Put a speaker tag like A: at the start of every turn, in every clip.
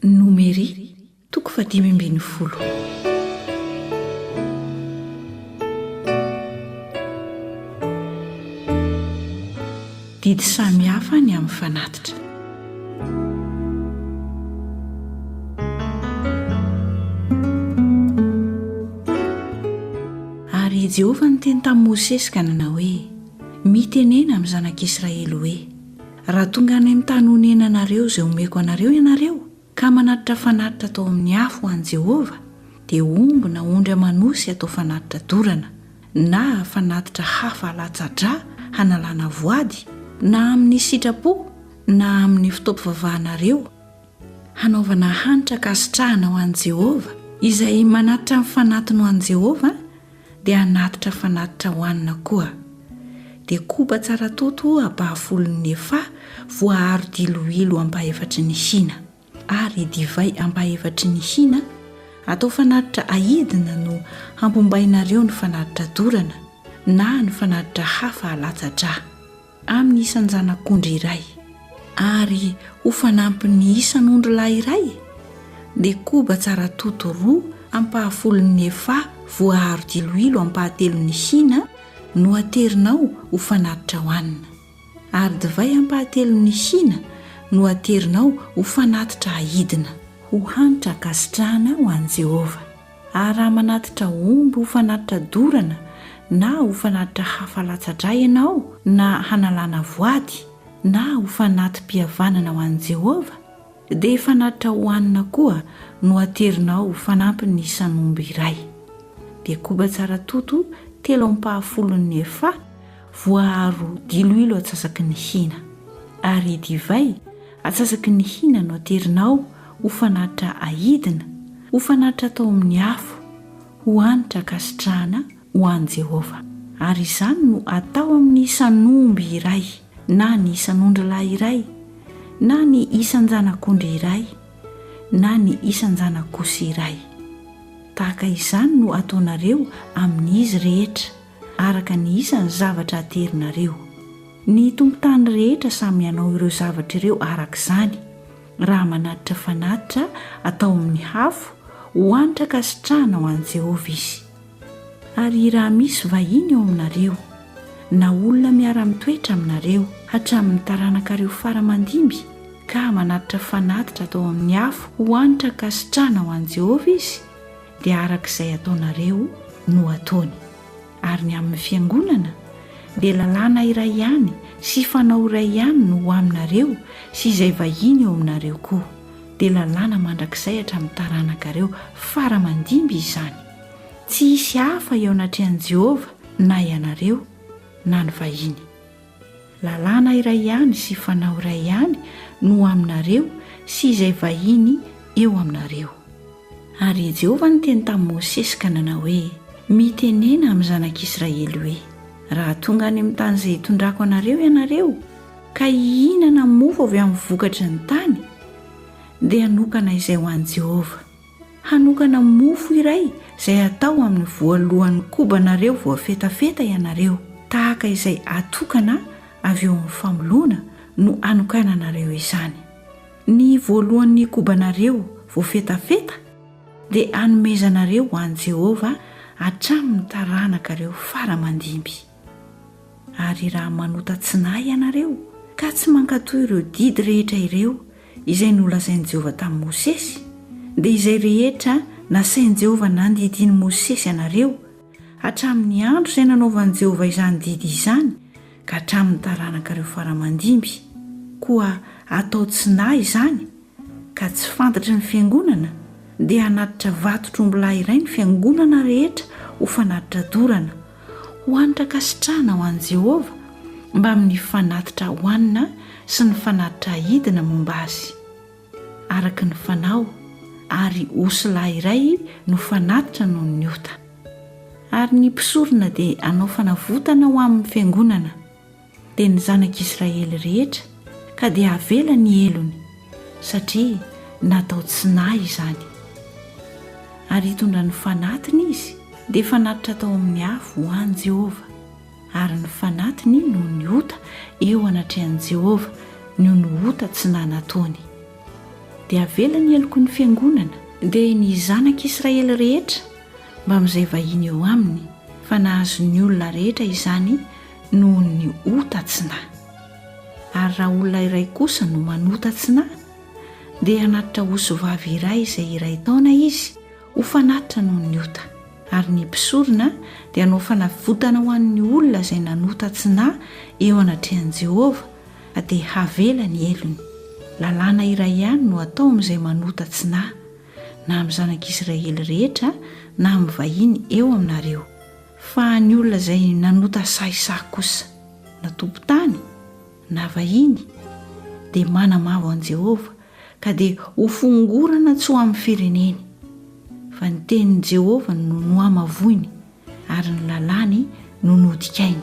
A: Nomery, toko fahadimy ambin'ny folo. Didy samihafa ny amin'ny fanatitra. Ary i Jehovah niteny tamin'i Mosesy ka nanao hoe, Mitenena amin'ny zanak'Israely hoe, Raha tonga any amin'ny tany onenanareo izay omeko anareo ianareo, ka manatitra fanatitra atao amin'ny afo ho an'i Jehovah, dia omby na ondry aman'osy atao fanatitra dorana, na fanatitra hafa alatsa-dra hanalana voady, na amin'ny sitrapo na amin'ny fitaopivavahanareo, hanaovana hanitra ankasitrahana ho an'i Jehovah, izay manatitra ny fanatiny ho an'i Jehovah, Dia hanatitra fanatitra hohanina koa. Dia koba tsara toto ampahafolon'ny efa voaaro diloilo ampahefatry ny hina. Ary divay ampahefatry ny hina atao fanatitra ahidina no hampombainareo ny fanatitra dorana na ny fanatitra hafa alatsa-dra. Amin'ny isan-janak'ondry iray, ary ho fanampin'ny isan'ondry lahy iray, dia koba tsara toto roa ampahafolon'ny efa voaaro diloilo ampahatelon'ny hina no aterinao ho fanatitra hohanina, ary divay ampahatelon'ny hina no aterinao ho fanatitra ahidina. Ho hanitra hankasitrahana ho an'i Jehovah. Ary raha manatitra omby ho fanatitra dorana na ho fanatitra hafa latsa-drà ianao na hanalana voady na ho fanati-pihavanana ho an'i Jehovah, dia fanatitra hohanina koa no aterinao ho fanampin'ny isan'omby iray. Dia koba tsara toto telo ampahafolon'ny efa Voaaro diloilo atsasaky ny hina, ary divay atsasaky ny hina no aterinao ho fanatitra ahidina, ho fanatitra atao amin'ny afo, ho hanitra ankasitrahana ho an'i Jehovah. Ary izany no atao amin'ny isan'omby iray na ny isan'ondrilahy iray na ny isan-janak'ondry iray na ny isan-janak'osy iray. Tahaka izany no ataonareo amin'izy rehetra. araka ny isan'ny zavatra aterinareo. Ny tompon-tany rehetra samy hanao ireo zavatra ireo araka izany, raha manatitra fanatitra atao amin'ny hafo ho hankasitrahana ho an'i Jehovah izy. Ary raha misy vahiny ao aminareo, na olona miara-mitoetra aminareo, hatramin'ny taranakareo fara aman-dimby, ka manatitra fanatitra atao amin'ny afo ho hankasitrahana ho an'i Jehovah izy, dia araka izay ataonareo no ataony. Ary ny amin'ny Fiangonana dia lalàna iray ihany sy fanao iray ihany no ho aminareo sy izay vahiny eo aminareo koa, dia lalàna mandrakizay hatramin'ny taranakareo fara aman-dimby izany. Tsy hisy hafa eo anatrehan'i Jehovah na ianareo na ny vahiny. Lalàna iray ihany sy fanao iray ihany no ho aminareo sy izay vahiny eo aminareo. Ary i Jehovah niteny tamin'i Mosesy ka nanao hoe, Mitenena amin'ny zanak'Israely hoe, Raha tonga any amin'ny tany izay hitondrako anareo ianareo, ka hihinana mofo avy amin'ny vokatry ny tany, dia hanokana izay ho an'i Jehovah. Hanokana mofo iray izay hatao amin'ny voalohan'ny kobanareo voafetafeta ianareo, tahaka izay atokana avy eo amin'ny famoloana no hanokananareo izany. Ny voalohan'ny kobanareo voafetafeta dia hanomezanareo ho an'i Jehovah hatramin'ny taranakareo fara-mandimby. Ary raha manota tsy nahy ianareo ka tsy mankatò ireo didy rehetra ireo izay nolazain'i Jehovah tamin'i Mosesy, dia izay rehetra nasain'i Jehovah nandidian'i Mosesy anareo, hatramin'ny andro izay nanaovan'i Jehovah izany didy izany ka hatramin'ny taranak'ireo fara-mandimby, koa atao tsy nahy izany, ka tsy fantatry ny fiangonana dia hanatitra vato tr'ombilahy iray ny fiangonana rehetra ho fanatitra dorana, ho hanitra ankasitrahana ho an'i Jehovah, mbamin'ny fanatitra hohanina sy ny fanatitra ahidina momba azy. Araka ny fanao, ary osy lahy iray no fanatitra noho ny ota. Ary ny mpisorona dia hanao fanavotana ho amin'ny fiangonana. dia ny zanak'Israely rehetra ka dia havela ny helony, satria natao tsy nahy izany. Ary hitondra ny fanatiny izy, dia fanatitra tao amin'ny afo ho an'i Jehovah, ary ny fanatiny noho ny ota eo anatrehan'i Jehovah noho ny ota tsy nahy nataony. Dia havela ny heloky ny fiangonana. Dia ny zanak'Israely rehetra, mbamin'izay vahiny eo aminy, fa nahazo ny olona rehetra izany, noho ny ota tsy na. Ary raha olona iray kosa no manota tsy na, dia hanatitra osy vavy iray izay iray taona izy ho fanatitra noho ny ota. Ary ny mpisorona dia hanao fanavotana ho an'ny olona izay nanota tsy na eo anatrehan'i Jehovah, fa dia havela ny helony. Lalàna iray ihany no atao amin'izay manota tsy na, na amin'ny zanak'Israely rehetra na amin'ny vahiny eo aminareo. Fa ny olona izay nanota sahisahy kosa, na tompon-tany na vahiny, dia manamavo an'i Jehovah, ka dia hofongorana tsy ho amin'ny fireneny. Fa ny tenin'i Jehovah no nohamavoiny, ary ny lalàny no nodikainy.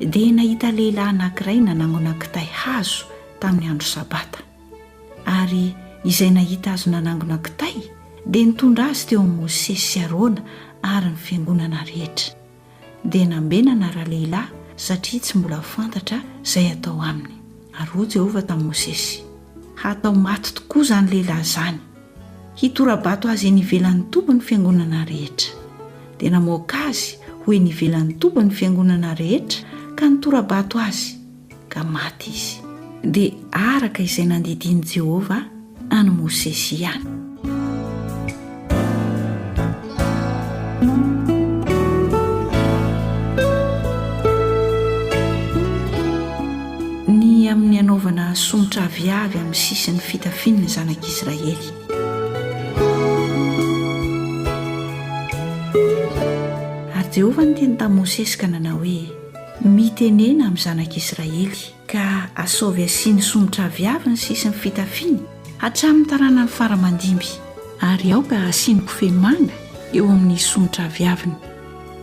A: Dia nahita lehilahy anankiray nanangona kitay hazo tamin'ny andro Sabata. Ary izay nahita azy nanangona kitay dia nitondra azy teo amin'i Mosesy sy Arona ary ny fiangonana rehetra. Dia nambenana ralehilahy satria tsy mbola fantatra izay hatao aminy. Ary hoy Jehovah tamin'i Mosesy, Hatao maty tokoa izany lehilahy izany. Hitora-bato azy eny ivelan'ny toby ny fiangonana rehetra. Dia namoaka azy ho eny ivelan'ny toby ny fiangonana rehetra ka nitora-bato azy, ka maty izy. Dia araka izay nandidian'i Jehovah an'i Mosesy ihany. Ny amin'ny hanaovana somotra aviavy amin'ny sisin'ny fitafian'ny zanak'Israely. Ary Jehovah niteny tamin'i Mosesy ka nanao hoe, Mitenena amin'ny zanak'Israely. ka asaovy asiany somotra aviavy ny sisin'ny fitafiany hatramin'ny taranany fara-mandimby, ary aoka asiany kofehy manga eo amin'ny somotra aviaviny,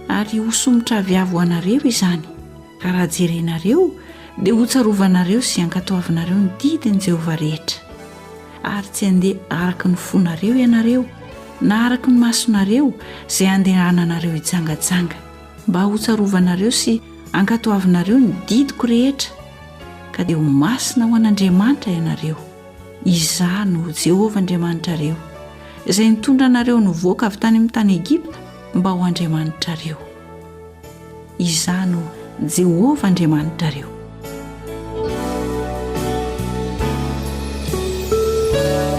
A: ary ho somotra aviavy ho anareo izany, ka raha jerenareo dia hotsarovanareo sy hankatoavinareo ny didin'i Jehovah rehetra, ary tsy handeha araka ny fonareo ianareo, na araka ny masonareo izay handehananareo hijangajanga. mba hotsarovanareo sy ankatoavinareo ny didiko rehetra, ka dia ho masina ho an'Andriamanitra ianareo. Izaho no Jehovah Andriamanitrareo, izay nitondra anareo nivoaka avy tany amin'ny tany Egypta mba ho Andriamanitrareo. Izaho no Jehovah Andriamanitrareo.